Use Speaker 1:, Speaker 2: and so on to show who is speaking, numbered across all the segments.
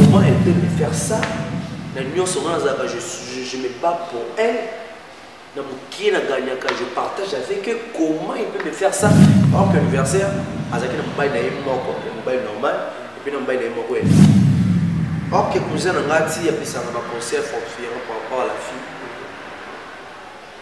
Speaker 1: Comment elle peut me faire ça Na nyonso nga nazalaka je, je, je me bats pour elle na mokie na gagnaka je partage avec eux comment il peut me faire ça par exemple anniversaire azalaki na mobali na ye moko ya mobali normal epuis na mobali na ye moko ya ok cousin na ngai ti apesaka baconseil fortifiant par rapport à la fille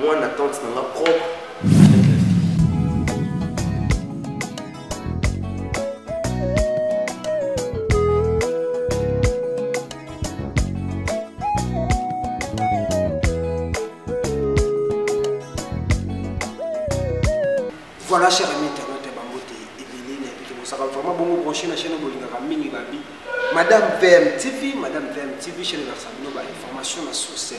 Speaker 1: Mwana tante na nga propre.
Speaker 2: Voilà, cher ami internaute, Bambote, Ebele, Nabiki, Mosaka, vraiment bon, branché la chaîne Bolingaka, Mingi Babi, Madame VM TV, Madame VM TV, chaîne Versabino, information, la source.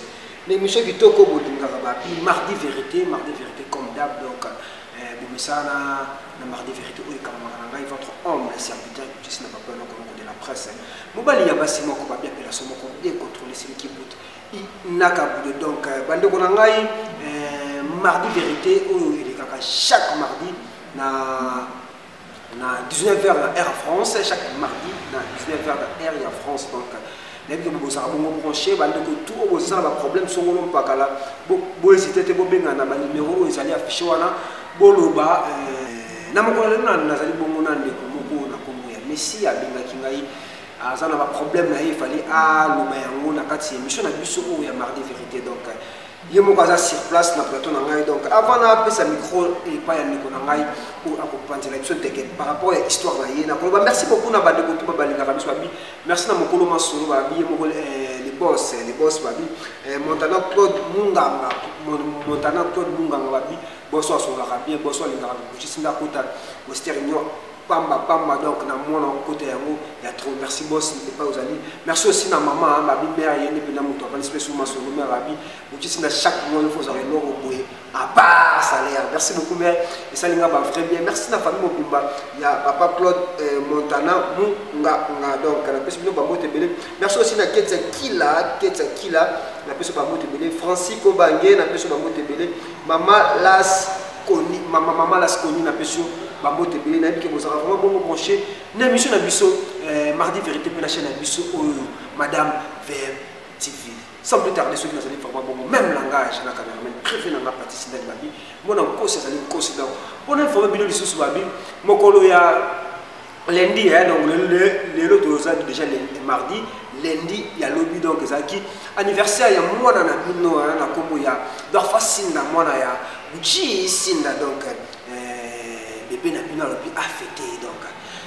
Speaker 2: na émission kitoko bolingaka babi mardi vérité mardi vérité comme d'hab donc euh, bomisana na mardi vérité oyo ekamamaka na ngai votre homme le serviteur justice na papa eloko moko de la presse mobali ya basi moko babi appellation moko bien contrôle celui qui boute nakabude donc euh, bandeko na ngai euh, mardi vérité oyo elekaka chaque mardi na na 19 heures na air france chaque mardi na 19 heures na air ya france donc nayebi ke bobosaka bongo branche bandeko tu oyo bozala baproblème songolo mpakala bohésite te bobengana na banimero oyo ezali affiche wana boloba euh, na mokolo lelo nazali bongo na ndeko moko na nkombo ya messi abengaki ngai aza na baproblème na ye efali aloba yango na kati ya émission na biso oyo ya mardi vérité donc ye moko aza sur place na plateau na ngai donc avant na apesa micro epai ya ndeko na ngai oyo akopanzela biso teke par rapport ya histoire na ye nakoloba merci beaucoup na bandeko tuba balingaka biso babi merci na mokolo masolo babi ye moko eh, le boss eh, le boss babi eh, montana claude munganga montana claude munganga babi boso asololaka bien boso alingaka mokutisi ndakota western union pamba pamba donc na mwana okota yango ya trop merci boss epai ozali merci aussi na mama babi mare ye nde mpena moto apanisi mpe suma solo mare abi bokisi na chaque mois ifo ozala eloko boye apart salaire merci beaucoup mare esali nga ba vrai bien merci na famille mobimba ya papa claude euh, montana munga nga donc napesi bino babote ebele merci aussi na ketsa kila ketsa kila napesi babote ebele francisco bange napesi babote ebele Mama Las Koni, mama mama Las Koni na pesio ba mbote belé na bike bozaka vraiment bongo branché na mission na biso euh, mardi vérité pe na chaîne na biso oyo oh, madame VM TV. Sans plus tarder ceux qui nazali vraiment bongo même langage na cameraman préfet na nga Patrice Ndali Babi, mona nkosi azali nkosi donc pona vraiment bino lisusu Babi mokolo ya lundi eh, donc lelo toza déjà mardi lundi ya lobi donc ezalaki anniversaire ya mwana na bino eh, na nkombo ya dorfa sinda mwana ya gucci sinda donc eh, bebe na bino alobi afete donc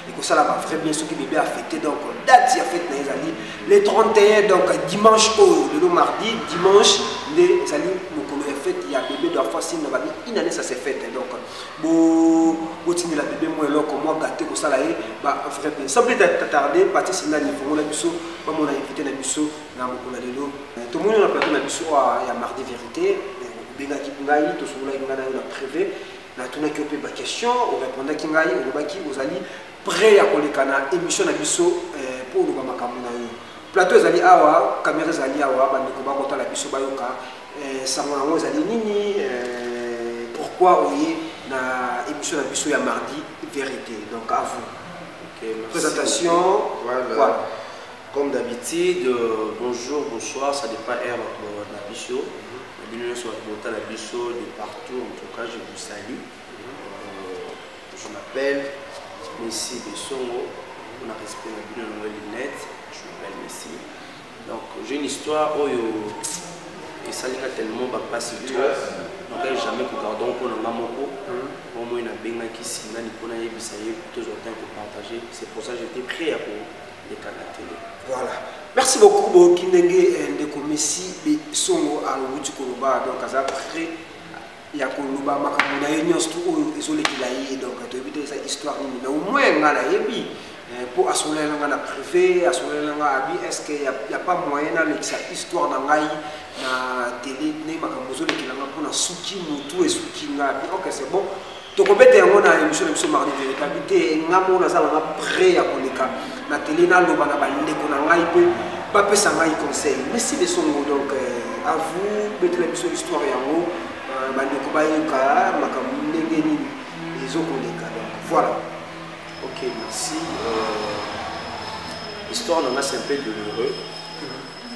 Speaker 2: ekosala ba vrai bien soki bebe afete donc date ya fete na ye ezali le 31 donc dimanche oyo lelo mardi dimanche nde ezali mokolo ya fete ya bebe dorfa sinda babi inane ça se fete donc Bo botindela bebe mwa eloko mwa gate kosala ye ba vrai bien sans plus tarder partie singani fongola biso bamona invité na biso na mokolo na lelo euh, tomoni na plateau na biso ah, ya mardi vérité obengaki euh, ngai tosololaki ngai na yo na privé natunaki yo mpe baquestion orépondaki ngai olobaki ozali près ya koleka na émission na biso mpo euh, oloba makambo na yo plateau ezali awa kamera ezali awa bandeko bakotala biso bayoka Eh, sango yango ezali nini eh, pourquoi oye na émission na biso ya mardi vérité donc à vous okay, présentation voilà. voilà. comme
Speaker 1: d'habitude euh, bonjour bonsoir ça dépend heure bato na biso na bino nyonso bato bota na biso de partout en tout cas je vous salue euh, je m'appelle messi besongo mpona respect na bino na yango linete je m'appelle messi Donc j'ai une histoire oyo esali nga tellement bapasi to nakali jamais kogarde mpo na nga moko mwa moi nabengaki singani mpo nayebisa ye tozwa temps kopartage c'est pour ça j'étais prêt ya koleka na tele voilà
Speaker 2: merci beaucoup boyoki ndenge eh, ndeko messi besongo awuti koloba donc aza prêt ya koloba makambo na ye nyonso tu oyo ezolekela ye donc toyebi te eza histoire nini mais omoi ngai nayebi mpo eh, asololaki na ngai na privé asololaki na ngai abi estce ya pas moyen nalekisa histoire na ngai na tele ndenge makambo ezolekela ngai mpo na suki motu esuki ngai abi ok c'est bon tokobeta yango na émission na biso mardi verité abi te ngai moko naza nanga près ya koleka Nateli naloba na bandeko na ngai mpe bapesa ngai conseil. Merci de son mot donc euh, à vous betela biso histoire yango euh, bandeko bayoka makambo ndenge nini ezokoleka donc voilà. Ok
Speaker 1: merci. Euh, histoire na ngai c'est un peu douloureux.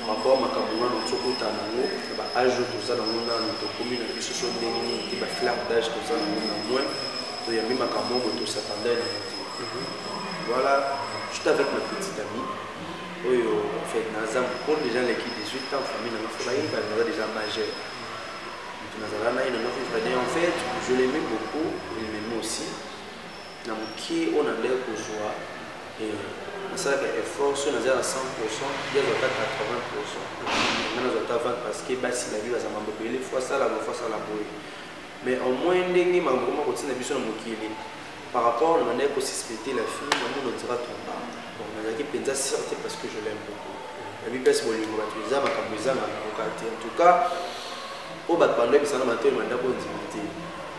Speaker 1: rapport makambo nano tokota nango na baage oyo toza nango nano tokomi na biso so ndenge nini te baflare dage toza nango na moins toyambi makambo oyo tosatandai na yango te Voilà, j'étais avec ma petite amie. Oyo, en fait, naza mokolo déjà leki 18 ans, famille na mafola ye, ba naza déjà majeur. Donc nazala na ye na mafola fade. En fait, je l'aimais beaucoup, il m'aimait aussi. Na mokie oyo na ndenge kozwa et nasalaka effort soki naza na 100 pourcent ye azwa ata 80 pourcent nga nazwa ata 20 parce que basi na vie baza mambo ebele fo asala boye fo asala boye mais au moins ndenge makambo koma kotina biso na mokili Par rapport, on est suspecter la fille, on nous dira tout le temps. Bon, on a dit penza certes parce que je l'aime beaucoup. La vie pèse bolingo ba tu za makambuza na kokati. En tout cas, au bas pandé bisana matin manda ko ndimite.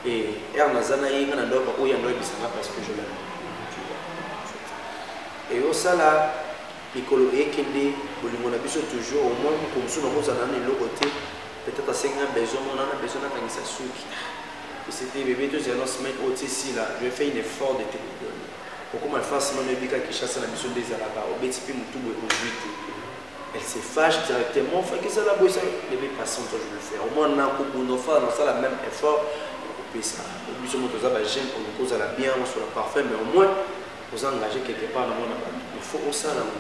Speaker 1: Et er nazana yinga na ndoka ko yando bisana parce que je l'aime. Tu vois. Et au sala mikolo ekende bolingo na biso toujours au moins ko musu na kozana na eloko te peut-être asengi na besoin mona na besoin nakangisa suki esete bebe tozela na semaine oyo tisila je vais faire une effort de te pardonner okoma face mama ebika kinshasa na biso nde ezalaka obeti mpe motu boye ozwi te elle se fâche directement faki ezala boye sa bebe passant toi je le faire au moins nakobunda ofala nasala même effort nakopesa biso moto oza bajeune oluki ozala bien osola parfum mais au moins oza engage quelque part na mwana bato il faut osala ngo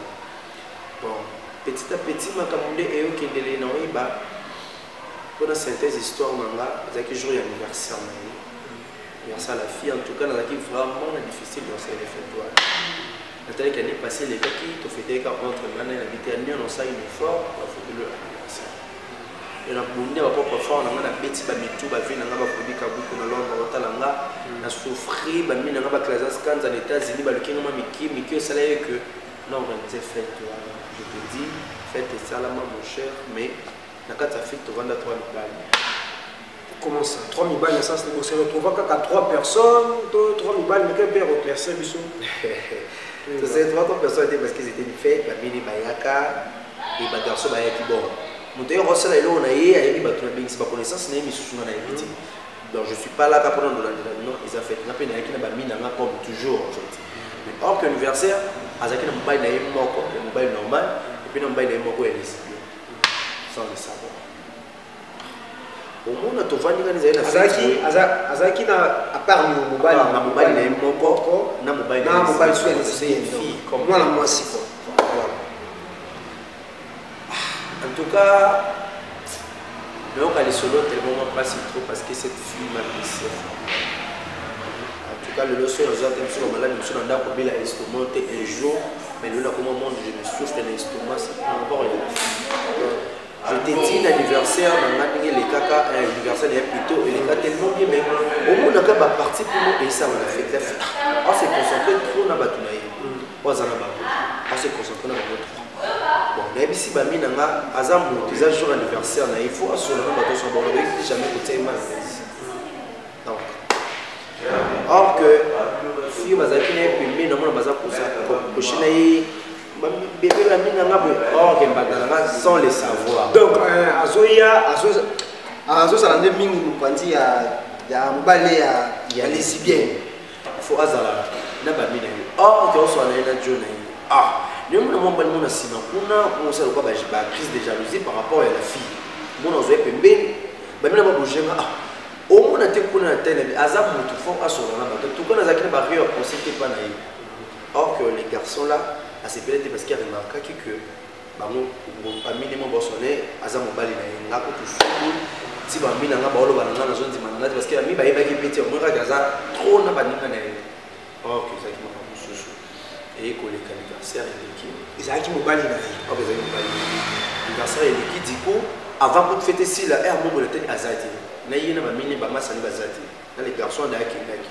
Speaker 1: Bon, petit à petit makambo nde eyokendelee na oyeba mpo na synthèse histoire na nga ezalaki jour ya anniversaire na ye anniversaire la fille en tout cas nazalaki vraiment na difficile dans cette fête wana natalaki année passé elekaki tofeteka entre nga na ye na bite ya nio nosali befort bafotelo ya anniversaire yo nabundi ya bapropre fort na nga nabeti bamitu bavi na nga baprobi kabuku na londre bakotala nga na souffrir bamina nga baclasas kanza na états-unis baluki nga mwa miki miki osala ye que na organise fete wana je te dis fete esalama mon cher mais na kati ya fete tovanda trois mibali
Speaker 2: comment ça trois mibali na sens se retrouva kaka trois personnes to trois mibali meke mpe reclairse biso tose
Speaker 1: trois trois personnes te parce qu'ils étaient fait bamini bayaka e bagarçon bayaki bon moto yoko asala eloko na ye ayebi bato na bengisi baconnaissance na ye misusu nga na yebi te donc je suis pas là kaka pona ndolandela non eza fete nga mpe nayaki na bami na nga comme toujours en fait mais or que anniversaire azalaki na mobali na ye moko ya mobali normal epuis na mobali na ye moko ya lesbien sans le savoir omona tovandi ngani ezali nazalaki na
Speaker 2: apart yo mobali na mobali na ye moko
Speaker 1: na mobali na mobali soki ya lesbien mwana mwasi quoi Ah, en tout cas, nayoka lisolo tellement mwa mpasi trop parce que cette fille m'a blessé en tout cas lelo soki nazwa te biso bamaladi biso na ndako obela estomac te un jour mais lelo nakoma monde je me souffre na estomac c'est pas encore ya je te dis l'anniversaire na nga ndenge elekaka anniversaire ya plutôt eleka tellement bien mais omonaka baparti mpo esala na fete ya fete ase concentre trop na bato na ye oyo aza na bango ase concentre na bango trop bon nayebisi bami na nga aza moto eza jour anniversaire na ye faut asola na bato nyonso bango bayebi jamais kotia ye mal donc or que fille bazalaki na ye pembeni namona baza koshi na ye bebe bami na nga boye or que mbanda na nga sans le savoir donc euh, azoya
Speaker 2: azozala nde mingi mopanzi ya mobale ya lesibienne faut
Speaker 1: azala na bami na ye or te oswana ye na jo na ye ah naye mona mwa mobali mona nsima kuna komosala lokola bacrise de jalousie par rapport ya la fille mona ozwa ye pembeni bamina babojenga ah omona te kuna na telemi aza motu fo asola na bato tuka nazalaki na bario ya conseil te mpa na ye or que les garçons là asepele te parce qu'il remarquaki que bango bamine mo bosole aza mobali na ye nga kutu fulu ti bambi na nga baoloba na nga nazondima na nga te parce que bambi bayebaki mpe te omoi kaka aza trop na baninga na ye or que ezalaki maka mosusu eye koleka anniversaire eleki ezalaki mobali na ye
Speaker 2: or ezalaki mobali
Speaker 1: anniversaire eleki diko avant kutu fete sila e amongola te aza te na ye na bamine bamasani baza te na le garçon adayaki endaki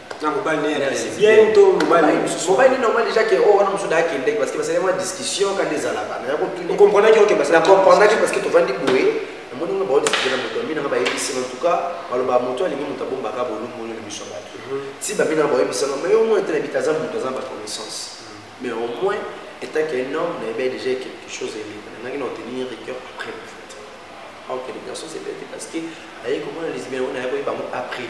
Speaker 2: mobali
Speaker 1: normal déjà ke oyo wana mosusu nakendeki parce que basali mwa discussion kanda ezalaka nayakotunacomprendaki
Speaker 2: parce que
Speaker 1: tovandi boye namoni ngo baodiscute na moto bamina nga bayebisi en tout cas baloba moto alingi moto abombaka bolumoni na biso bato ti bamina nga baoyebisanga mais au moins ete na bita aza moto aza na baconnaissance mais au moins etant que un homme nayebi déjà quelque chose eleka nangaki na otenir rigueur après en fait aokende garçon c'est bête parce que ayekomona lesbien oyo nayakoyebango après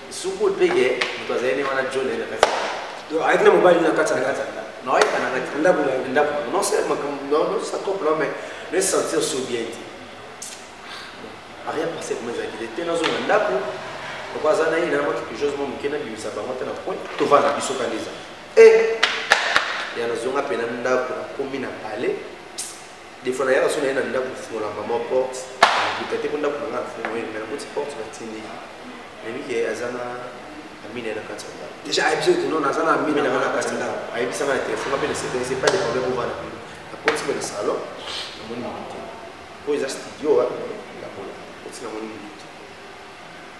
Speaker 1: Sukul pe ke moto azali ne wana John na kati. Donc ayaki na mobali na kati
Speaker 2: na kati. Non ayaka na kati.
Speaker 1: Ndako na ndako. Non c'est ma non non ça couple non mais ne sentir sous bien dit. Rien passé comme ça qu'il était dans un ndako. Pourquoi ça n'a eu na moi quelque chose mon kena bi sa bango tena point. To va na biso kanisa. Eh ya nazonga pe na ndako na komi na palais defo nayaka so naye na ndako kofungola mama porte nakuta te mpo ndako na ngai afungoyeli me nakuti porte natindi nayebi ke aza na amina na kati ya ndako deja ayebisi oyo tino naza
Speaker 2: na amina na na kati ya ndako ayebisaka na telefone
Speaker 1: mpe nasepense pas de problème ova na bino nakoti mpe na salon namoni mimi te oyo eza studio wa yakola koti namoni mimi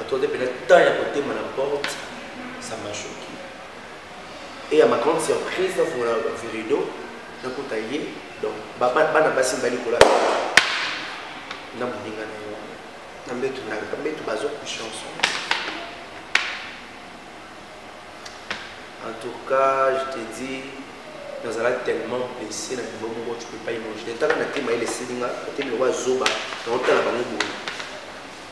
Speaker 1: Atode pena temps ya kotema na porte, ça m'a choqué. Et à ma grande surprise, dans mon virido, dans mon taillé, donc, baba, bana basi mbali kola. Na muninga na yo. Na mbetu na, na mbetu bazo ku chanson. En tout cas, je te dis, nous allons tellement blessé dans le bon moment, tu peux pas imaginer. Tant qu'on a été maïs, c'est dingue, on a été le roi Zoba, on a été la banque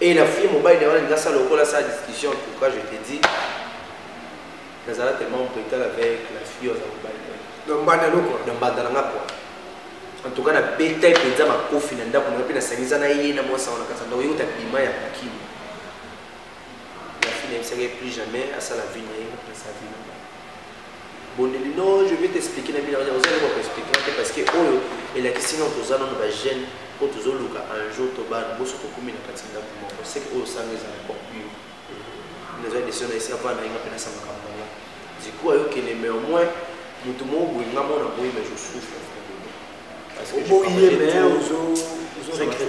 Speaker 1: Et la fille mobile de wana ça le cola sa discussion en tout cas je te dis nazala tellement brutal avec la fille oza mobile donc banda loko
Speaker 2: donc banda nga
Speaker 1: quoi en tout cas na beta mpenza makofi na ndako nayo mpe nasangisa na ye na mwasi yango na kati ndako yeuta bima ya kokimi la fille nayebisaki ye plus jamais asala vie na ye na sa vie na bondeli non je vais t'expliquer na bino oza eloko koexpliquer te parce que oyo elakisi nano toza nano bajeune oyo tozoluka un jour to bana boso tokumi na kati ndako moko seke oyo osanga ezala popure naza desio na esi avana yenga mpe nasamaka mbongo du coup ayokende mais au moins moto moko boye nga mona boye mais je souffre oboyi ye mais ozo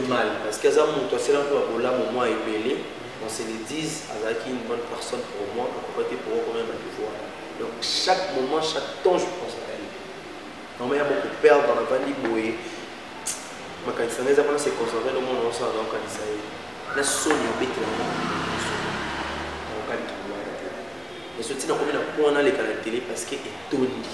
Speaker 1: mal parce que aza moto asela mpo ya bolamu mwa ebele on se le dise azalaki une bonne personne pour moi akoka te pour okomema baniveau wana donc chaque moment chaque temps je pense à elle normal ya moko perdre na vandi boye makanisa ngai eza mpona se concentrer no mwana oso azaokanisa ye na soni obetela okali tolwana te ezo ntina komi na mpo wana aleka na tele parce que etondi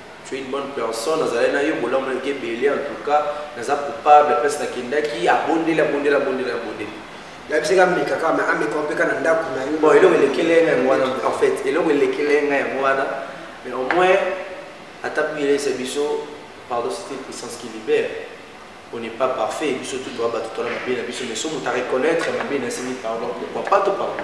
Speaker 1: Tu es une bonne personne, nazalaki na yo bolamu na ke bele en tout cas, naza coupable place nakendaki abondeli abondeli abondeli abondeli.
Speaker 2: Yabisi ka meka ka mais ameka mpe ka na ndako na yo. Bon eloko elekele nga yango
Speaker 1: wana en fait, eloko elekele nga yango wana mais au moins ata puis il est biso pardon c'est une puissance qui libère. On n'est pas parfait, biso tout doit battre la mabé na biso mais somo ta reconnaître mabé na simi pardon pourquoi pas to pardon.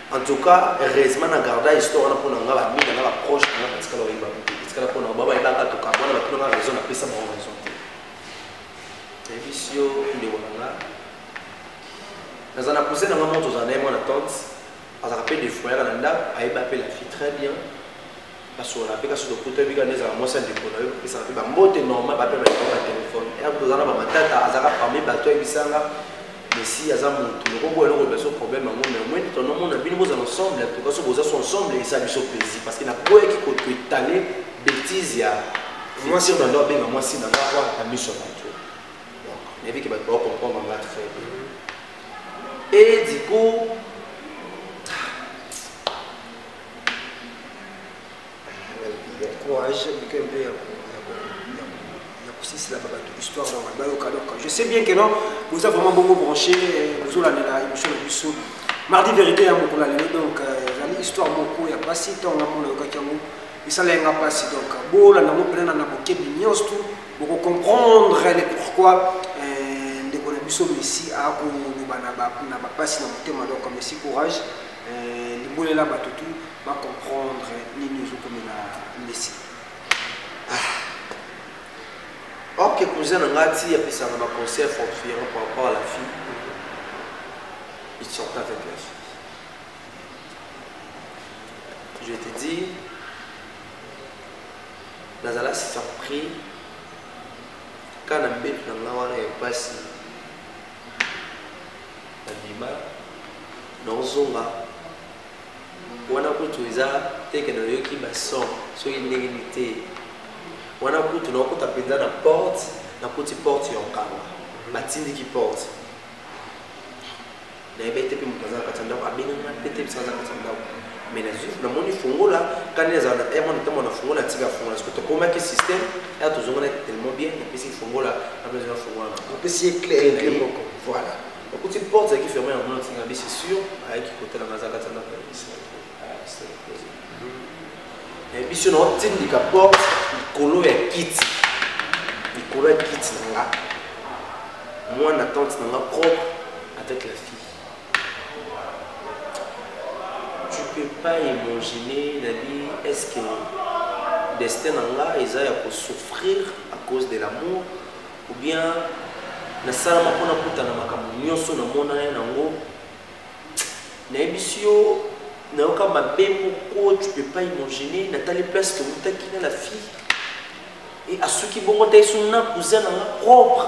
Speaker 1: En tout cas, heureusement, na garda histoire na pona nga ba mina na ba proche na ba tikala oyeba. Tikala pona ba ba ibaka to ka pona ba pona raison na pesa ba raison. Evisio nde wana nga. Naza na cousin na nga moto za na moi na tante. Azaka pe de foyer na ndako, ayeba pe la fille très bien. kasona mpe kasi lokuta ebika nde ezala mwasi ya ndeko na yo kopesaka mpe bambote normal bape baiko na telefone ena kutu oza na bamatata azaka parmi bato ayebisanga mesi aza motu lokoboya eloko biso problème yango mais omoi nde tonomona bino bozala ensemble en tout cas so boza so ensemble esa biso plaisir parce que naboyaki koto etale bétise ya mwasi na ngai abenga mwasi na ngai awa na miso ya bato nayebi ke bato baocomprendre nga très bien et du coup
Speaker 2: courage bika mpe ya kosisela babato histoire na wana bayoka donc je sais bien que non boza vraiment bongo branché eh, bozolandela émission na biso mardi vérité ya mokolo ya lelo donc euh, ezali histoire moko ya mpasi ntango ngambo nayokaki yango esala yanga mpasi donc bolanda yango mpenana na bokebi nyonso tu bokocomprendre le pourquoi euh, ndeko na biso messi akoloba na bapasi na motema donc messi courage euh, libolela bato tu ba comprendre nini ezokomela mbesi
Speaker 1: ah. ok cousin na ngai ti apesaka ba conseil fortuiere par rapport à la fille il sorte avec la fille je te dis nazala surpris kaka na mbetu na ngai wana ya mpasi nabima naozonga wana kutu eza teke nayoki bason soki ndenge ni te wana kutu naokota mpenza na porte nakuti porte ya okanga batindiki porte nayebi ete mpe moto aza na kati ya ndako abenganga mpe te biso aza kati ya ndako mais nazwi namoni fongola kani nazala na air mwana ntango nafongola ntika fongola soki tokomaki système air tozonganaki tellement bien napesi fongola napesi nafongola napesi ye claire moko voilà okuti porte ezalaki ferme yango na ntinga bisi sur ayaki kotala nga azalaka tanda mpe biso na otindika porte likolo ya kiti likolo ya kiti na nga mwana tante na nga propre avec la fille tu peux pas imaginer nabi est ce que destin na nga eza ya kosouffrir à cause de l'amour ou bien nasalama mpo nakutana makambo nyonso namona ye nango nayebisi yo nayoka mabe moko tu peux pas imaginer natali place towutaki na la fille e asuki bongo ta esu na cousin na nga propre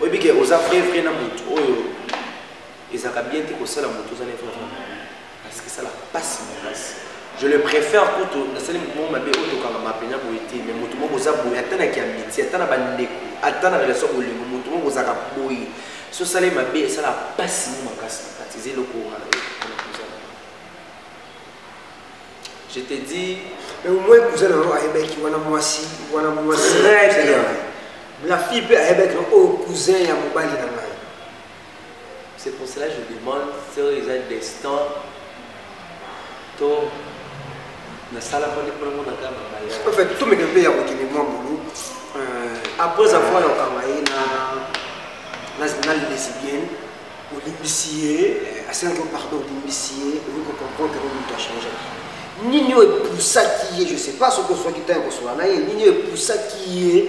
Speaker 1: oyebi ke oza vrai vrai na motu oyo ezalaka bien te kosala motu oza na vrai vrai parce que esala mpasi makasi je le préfère kutu nasali motu moko mabe oyo tokangama mpenza boye te mais motu moko oza boye ata na kiamiti ata na bandeko ata na relation bolingo motu moko ozalaka boye so osali mabe esala mpasi mo makasi na kati eza eloko wana Je te dis. Mais
Speaker 2: au moins cousin na yo ayebaki wana mwasi wana mwasi. Très bien. La fille peut ayebaki o oh, cousin ya mobali na ngai.
Speaker 1: C'est pour cela que je demande si eza destin to
Speaker 2: nasalaka nde mpo nango nakaa mabaya. En fait tomeka mpe ya kokende mwa bulu euh, après avoir yokanga ye na na lesbienne olimbisi ye eh, asenga yo pardon olimbisi ye okoki kocomprendre yango moto achangaki nini oyo epusaki ye je sais pas soki ozwaki ntango kosola na ye nini oyo epusaki ye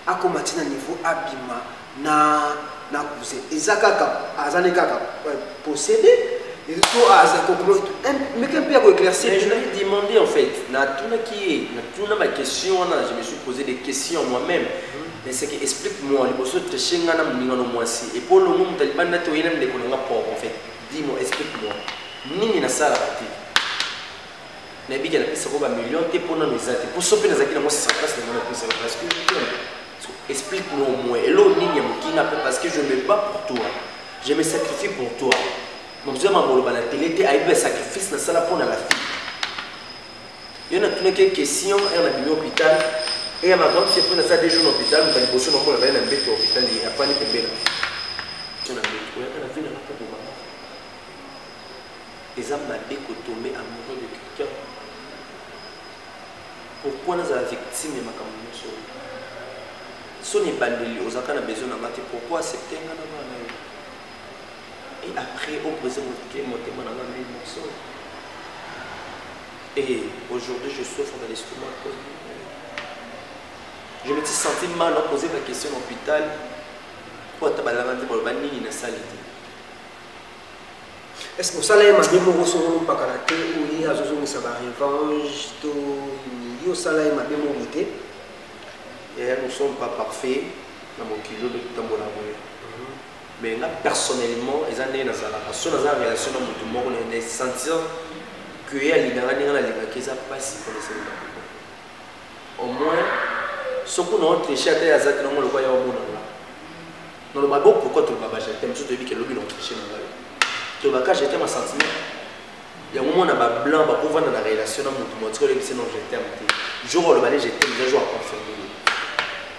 Speaker 2: akoma ti na niveau abima na na cousin eza kaka azali kaka eh, possédé to aza komeka mpe ya koéclaircir je lui demandé en
Speaker 1: fait natunaki ye natuna baquestion wana je me suis posé des questions moi-même Mais c'est que explique moi liboso tricher nga na muninga no mwasi et pour longo muta libanda te oyena ndeko na nga pauvre en fait dis moi explique moi nini na sala ba te na bika na pesa ko ba million te pona no ezate pour sope na zaki na mo sa place na mo na pesa parce que explique moi au moins et l'eau nini ya mukinga pe parce que je me bats pour toi je me sacrifie pour toi mobzwa ma boloba na tele te ayebi ba sacrifice na sala pona la fille Yo na tuna ke question ya na bino hôpital et ya ma grande sœur pona ça deux jours na hôpital mpa liboso na mona na mbeto ya hôpital ya pani pembela. Tuna mbeto ya kana vina na kobo mama. Eza mabe ko tomber amoureux de quelqu'un. Pourquoi na za victime ya makambo nyonso? Soni bandeli ozaka na besoin na ngati pourquoi accepter ngana bana yo? et après au brise motema na nga mille morceaux et aujourd'hui je souffre dans l'estomac à cause je me suis senti mal à poser ma question à l'hôpital mpo ata balanga te baloba nini nasali te
Speaker 2: est ce que osala ye mabe moko soko opakana te oye azozongisa barevange to yo osala ye mabe moko te
Speaker 1: nous sommes pas parfait na mokili oyo totambola boye mais nga personnellement eza ndenge nazalaka so naza na relation na motu moko na sentir que ye alingaka ndenge nalingaki eza mpasi mpona esenga au moins soki na otriche ata ye aza te nango lokwa ya omona nga naloba bo pourkoi toloba bajete mosusu toyebi ke lobi na otriche na ngai tolobaka jete ma sentiment yango mona bablanc bakovanda na relation na motu motika olebisi non je teme te jour oloba ne je teme eza jour aconfirme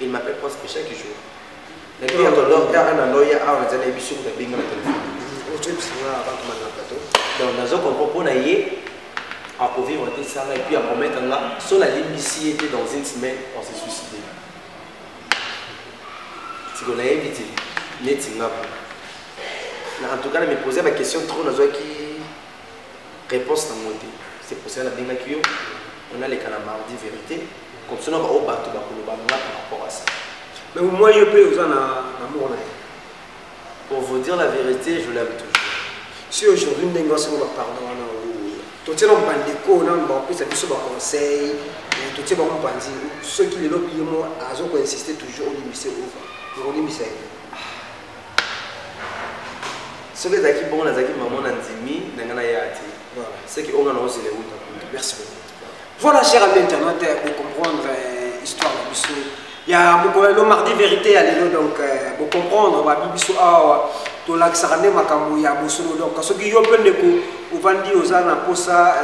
Speaker 1: Il m'appelle presque chaque jour. Na qui a tolo ya ana loya awa nzela ebisu na binga na telefone. Ocho bisanga ba kuma na plateau. Donc nazo comprendre pona ye à vivre te ça et puis à promettre là sur la ligne ici était dans une semaine on s'est suicidé. C'est qu'on a évité net Singapour. En tout cas, je me posais la question trop dans qui réponse na ngo te c'est pour ça nabengaki yo onaleka na mardi vérité comme ça naka oyo bato bakoloba nga par rapport à ça mais moi yo
Speaker 2: mpe oza na amour na ye
Speaker 1: pour vous dire la vérité je l'aime toujours si aujourd'hui
Speaker 2: ndenge wasango bapardon wana totie na bandeko na bapesa biso baconseil totie bango mpanzi soki lelo biye mo azokoinsiste toujours olimbise ova okolimbisa ye
Speaker 1: soki ezalaki bongo nazalaki mama na ndimi na ngai naya te seke oyo ngai naozela euta kutu merci beaucoup
Speaker 2: voilà cher ami internet euh, bocomprendre euh, histoire na biso ya mokolo lelo mardi vérité ya lelo donc euh, bocomprendre babi biso awa tolakisaka nde makambo ya bosolo donc soki yo mpe ndeko ovandi oza na mposa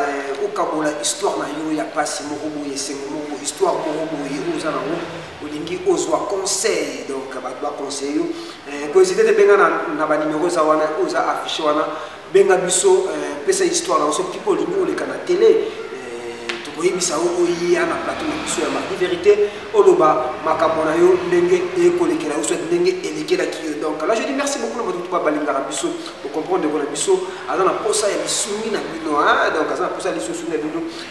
Speaker 2: okabola histoire na yo ya mpasi moko boye esengo moko histoire moko boye oyo oza nango olingi ozwa conseil donc bato baconseille yo eh, koezite te benga na banimero eza wana oyo eza affiche wana benga biso eh, pesa histoire na biso pipo olingi oleka na tele eh, tokoyebisa yo oya na plateau na biso ya mardi vérité oloba makambo na yo ndenge ekolekela yo soit ndenge elekelaki yo donc là je dis merci beaucoup na bato tupa balingaka biso bocomprendre ndeko na biso aza na mposa ya lisungi na bino donc aza na mposa ya lisungi na bino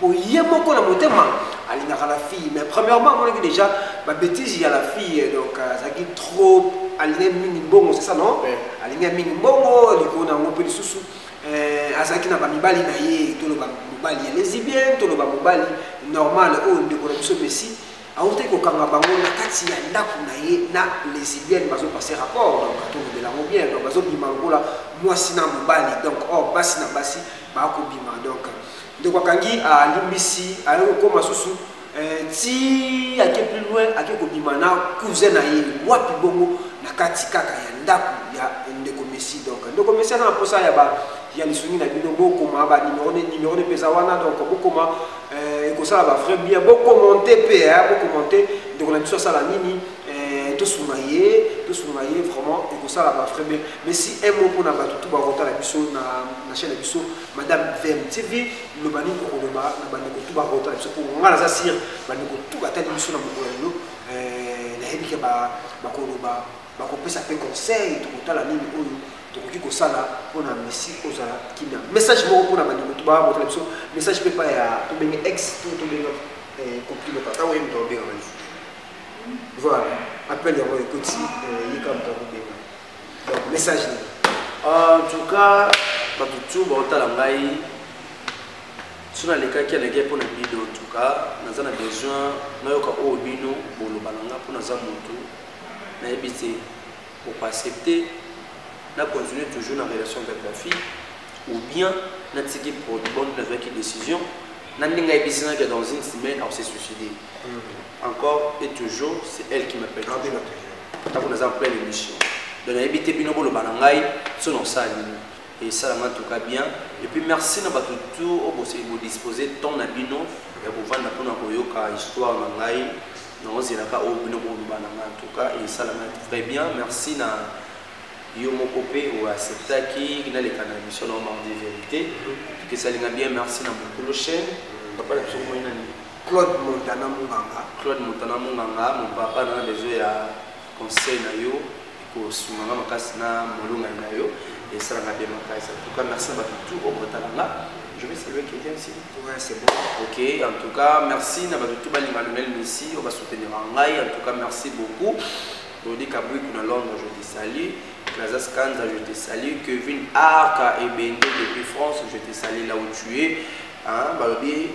Speaker 2: po ye moko na motema alingaka la fille mais premièrement amonaki déjà babétise ya la fille donc euh, azalaki trop alingai mingi mbongo c'est ça non alingai mingi mbongo likolo na yango mpe lisusu euh, azalaki na bamibali na ye toloba mobali ya lesibien toloba mobali normal oyo oh, ndeko na biso messi awutaki kokanga bango na kati ya ndako na ye na lesibienne bazopase rapport donc atolobela yango bien donc bazobima lokola mwasi na mobali donc or oh, basi na basi bakobima donc Ndeko akangi alimbisi aye kokoma susu eh, ti ake plus loin ake kobima na cousin na ye wapi bongo na kati kaka ya ndako ya ndeko messi donc ndeko messi aza na mposa ya ba ya lisungi na bino bokoma banimero ne nimero ne mpeza wana donc bokoma eh, ekosala ba vrai bien bokomente mpe eh, bokomente ndeko na biso asala nini eh, tosunga ye tosunga ye vraiment ekosala ba vrai bien mais si un mot mpona bato tu bakotala biso na chaine na biso Madame VMTV, loba nini okoloba na bandeko tu bakota na biso mpo ngai naza sire bandeko tu batali biso na mokolo ya lelo eh, nayebi ke bakoloba bakopesa mpe conseil tokotala nini oyo tokoki kosala mpo na messi kozala kimia message moko mpo na bandeko tu bakota na biso message mpe epai ya tobenge ex to tobenga eh, compliment tata oyo moto abengaka lisusu voilà appel yango ekoti eh, yeka moto akobenga donc message nini ah, en tout
Speaker 1: cas bato tu baotala ngai so nalekaki alekaki mpo na bido en tout cas naza na besoin nayoka oyo bino boloba na nga mpo naza motu nayebi te okoaccepte na continue toujours na relation avec la fille ou bien natiki bonne nazwaki décision na ndenge ayebisinaki dans une semaine aose suicide Mm. Encore et toujours, c'est elle qui m'appelle. Ah, bien entendu. Tant qu'on a plein l'émission. Donc, on a évité Bino Bolo Banangai, son en salle. Et ça, en tout cas, bien. Et puis, merci à tout tout, au vous disposer tant à Bino, et vous vendre pour nous Yoka, histoire Nangai. Nous avons là au Bino Bolo Banangai, en tout cas, et ça, en très bien. Merci à yo moko mpe oacceptaki naleka na émission na omar de vérité tokesali na bien merci na mokolo chaîne papa na biso komoi nani Claude Montana
Speaker 2: Munganga. Claude Montana Munganga, mon papa na
Speaker 1: besoin ya conseil na yo kosunga nga makasi na molongani na yo esalaka bien makasi en tout cas merci na bato tout oyo botala nga je vais saluer quelqu'un ici ouais, c'est bon ok
Speaker 2: en tout
Speaker 1: cas merci na bato tout balinga lionel messi oyo basoutenira ngai en tout cas merci beaucoup Rodi Kabuiku na Londres, je te salue. Plaza Scanza, je te salue. Kevin Arca et Bende depuis France, je te salue là où tu es. Hein, Balobi,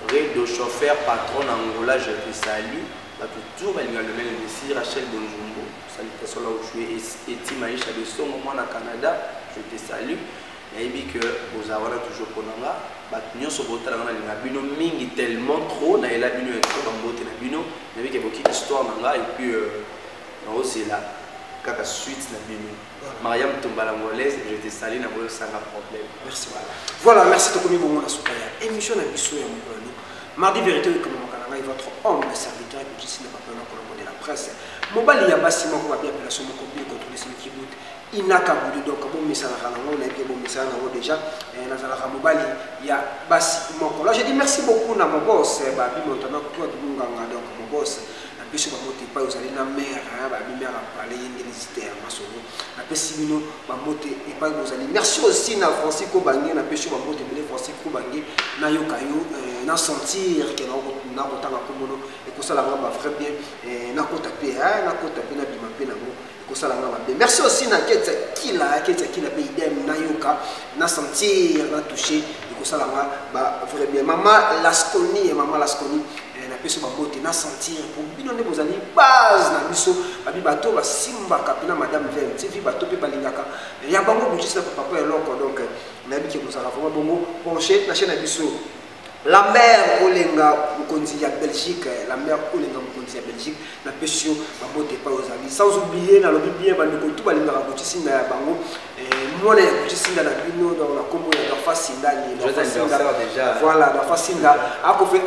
Speaker 1: Redo chauffeur patron na Angola je te salue batu tour balinga lomele messi Rachel Bonjumbu salutation là où tu es Eti Maisha de Songo mwana Canada je te salue nayebi que boza wana toujours mpona nga bato nyonso botala nga nalinga bino mingi tellement trop nayela bino ya trop bambote na bino nayebi ke bokiki histoire na nga epuis euh, naozela kaka suite na bino Maria Mutumba l'angolaise, je te salue na boyo sanga problème. Merci voilà.
Speaker 2: Voilà, merci de komi bongo na suka ya émission na biso ya mokolo. Mardi vérité de komi makana ngai votre homme le serviteur que je suis na papa na kolombo de la presse. Mobali ya basi moko ba bien appellation moko bien contrôler celui qui doute. Inaka boudi donc bon misala kana ngo na bien bon misala na ngo déjà eh, na zala ka mobali ya basi moko. Là je dis merci beaucoup na mon boss eh, ba bimo tana kwa dunganga donc mon boss. napesi bambote epai ozali na mere babi mere apale ye nde lisite ya masolo napesi bino bambote epai bozali merci aussi na francis kobange napesi yo bambote ebele francis kobange nayoka yo euh, na sentir ke nakotanga komono ekosala nga ba vrai bien euh, nakota mpe nakota mpe nabima mpe nango kosala nga mabe merci aussi na ketsa kila ketsa kila mpe idem nayoka na sentir na touche ekosala nga ba vrai bien mama lasconi mama lasconi eh, napesi babote na sentir po bino nde bozali base na biso babi bato basimbaka mpena madame vem tivi bato mpe balingaka ya bango bojisi na papa mpo eloko donc eh, nayebi ke kozala vraimen bongo penche na chaine ya biso Lambert Olenga mokonzi ya Belgique eh, Lambert Olenga mokonzi ya Belgique na pesi yo mabote epai ozali sans oublier nalobi bien bandeko tu balingaka kotisinda ya bango eh, mwana ya kotisinda na bino donc na nkombo ya gafa sindani
Speaker 1: voilà gafa sinda
Speaker 2: akofe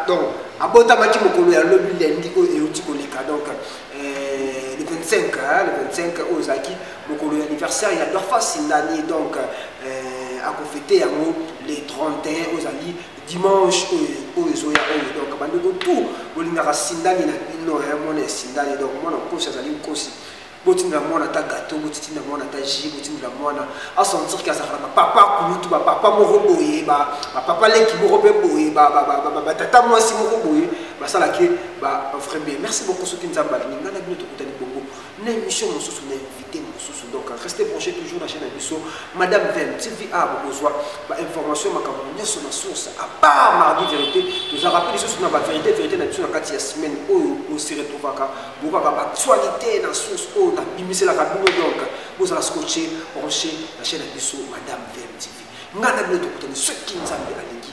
Speaker 2: donc abotamaki mokolo ya lobi lendi oyo euti koleka donc eh, le 25 le 25 oyo ozalaki mokolo ya anniversaire ya Dorfasi Ndani donc euh, akofete yango le 31 ozali dimanche oyo ezoya oyo donc bandeko tout bolingaka sindani na bino ya mwana ya sindani donc mwana nkosi azali nkosi botindela mwana ata gato botindela mwana ata ji botindela mwana asentir ke azalaka na bapapa kulutu bapapa moko boye bapapa leki moko mpe boye batata mwasi moko boye basalaki ba vrai bien merci beaucoup soki nzambe alingi ngai na bino tokutani bongo na émission mosusu na invité mosusu donc reste branché toujours na chaîne na biso madame vem tva bokozwa bainformation makambo nyonso na source à part mardi vérité toza rappel lisusu na bavérité vérité na biso na kati ya semaine oyo osi retrouvaka bokaka baactualité na source oyo nabimiselaka bino donc bozala scotché branché na chaîne na biso madame vem tv ngai na bino tokutani soki nzambe alingi